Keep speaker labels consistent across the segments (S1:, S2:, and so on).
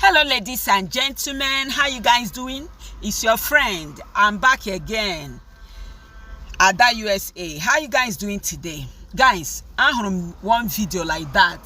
S1: Hello ladies and gentlemen, how you guys doing? It's your friend. I'm back again. Ada USA. How you guys doing today? Guys, ahụrụ m one video like that.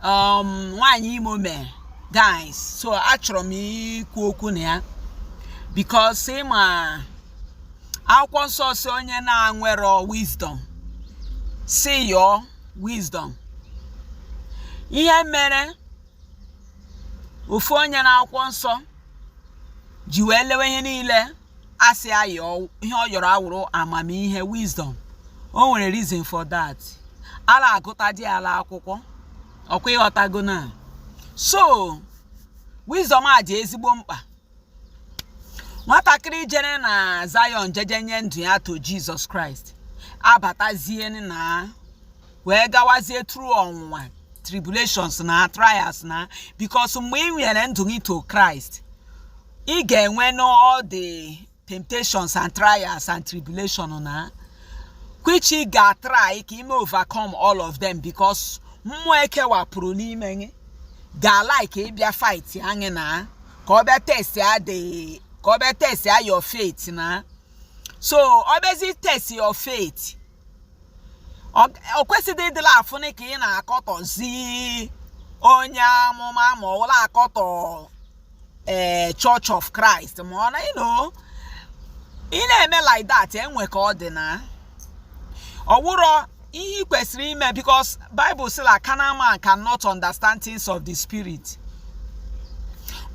S1: Um, nwaanyị Imo mere. Guys, so achọrọ m ikwu okwu na ya because ị ma akwụkwọ nsọ sị onye na-enwero wisdom sị yọọ wisdom ihe mere ofu onye na akwụkwọ nsọ ji wee lewe ihe niile a sị ya yọọ ihe ọ yọrọ awụrụ amamihe wisdom o nwere reason for that a la-agụtadị ya la akwụkwọ ọkwa ị ghọtago na so wisdom a dị ezigbo mkpa nwatakịrị jere na Zion jeje nye ndụ ya to Jesus Christ abatazie na wee gawazie through ọnwụnwa tribulations na trials na because mgbe i nyere ndụ gị to Christ ị ga-enwe nụ ụdị temptations and trials and tribulation na which ị ga-atry ka i mee overcome all of them because mmụọ e kewapụrụ n'ime gị ga-alike ịbịa fight anyị na ka ọ bịa testịa dị ka ọ bịa testịa your faith na so ọ bịazi test your faith ọ kwesịghị ịdịla afụnị ka ị na-akọtọzi onye amụma ma ọ wụ la akọtọ ee eh, church of christ ma ọ na ịnụ ị na-eme like that enwe ka ọ dị na ọ wụrọ ihe i kwesịrị ime because bible sị la carnal man cannot understand things of the spirit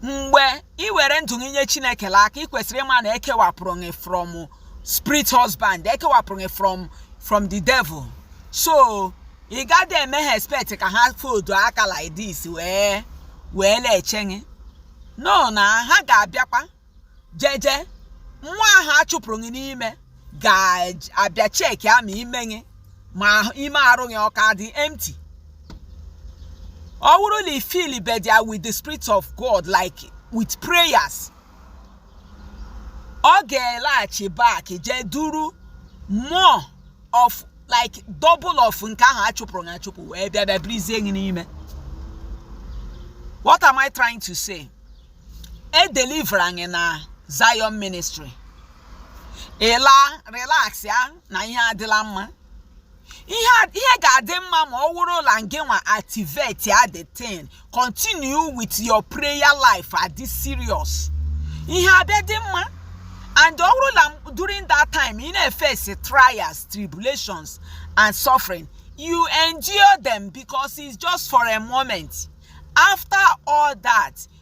S1: mgbe ị were ndụ gị nye chineke la aka ị kwesịrị ịma na e kewapụrụ gị from spirit husband e kewapụrụ gị from from the devil so ị gaghị eme ha expect ka ha fold aka like this wee la-eche gị no na ha ga-abịakwa jeje nwa ahụ a chụpụrụ gị n'ime ga-abịa checkịa ma ime gị ma ime arụ gị ọ ka dị empty ọ wụrụ la ị fillbedị ya with the spirit of god like with prayers ọ ga-elaghachi back jee duru more of like double of nke ahụ a chụpụrụ achụpụ wee bịa bịa birizie gị n'ime what am i trying to say e deliver anyị na zion ministry ị la relax ya na ihe adịla mma ihe ga-adị mma ma ọ wụrụ la ngị nwa activate ya the thing continue with your prayer life adị serious ihe abịa dị mma and ọ wụrụ la during that time ị na-efesi trials tribulations and suffering you endure them because it's just for a moment after all that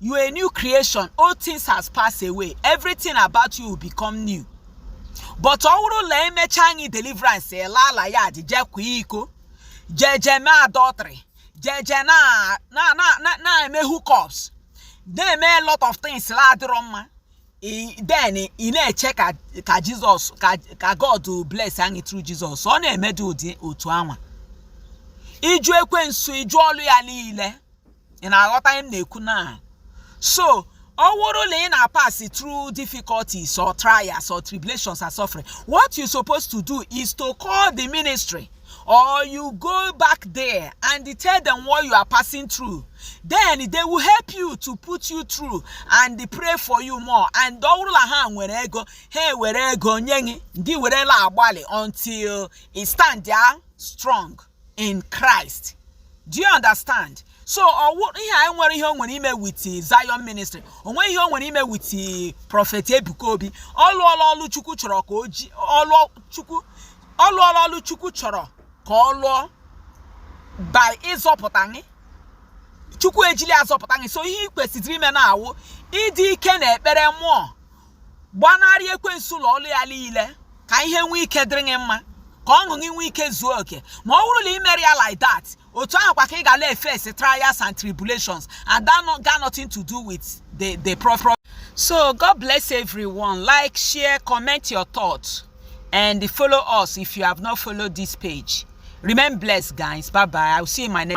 S1: you are a new creation old things has passed away everything about you will become new but ọ wụrụ la emecha anyị deliverance ela ala ya jee jee kwaa iko jee jee mee adultery jee jee na na na na-eme hookups na-eme a lot of things la adịrọ mma then ị na-eche ka ka jizọs ka god bless anyị through jizọs ọ na-emedo ụdị otu anwa ịjụ ekwensu ịjụ ọlụ ya niile ị na-aghọta ihe m na-ekwu na so ọ wụrụ la ị na-apasị through difficulties or trials or tribulations and suffering what you supposed to do is to call the ministry or you go back there and tell them what you are passing through then they will help you to put you through and pray for you more and ọ wụrụ la ha nwere ego ha were ego nye gị gị werela agbalị until ị standịa strong in Christ. Do you understand? So ọ wụ ihe na-enwerọ ihe o nwere ime with Zion ministry o nwerọ ihe o nwere ime with Prophet Ebuka Obi ọ lụọla ọlụ Chukwu chọrọ ka o ji ọlụ Chukwu ọ lụọla ọlụ Chukwu chọrọ ka ọ lụọ by ịzọpụta anyị Chukwu ejili azọpụta anyị so ihe ị kwesịziri ime na-awụ ịdị ike na ekpere mmụọ gbanarị ekwensu la ọlụ ya liile ka ihe nwee ike dịrị gị mma ka ọṅụ gị nwee ike zuo oke ma ọ wụrụ la ị merọ ya like that otu ahụ kwa ka ị ga la-efesi trials and tribulations and that one got nothing to do with the the prophet. so god bless everyone like share comment your thoughts and follow us if you have not followed this page remain blessed guys bye bye i will see you in my next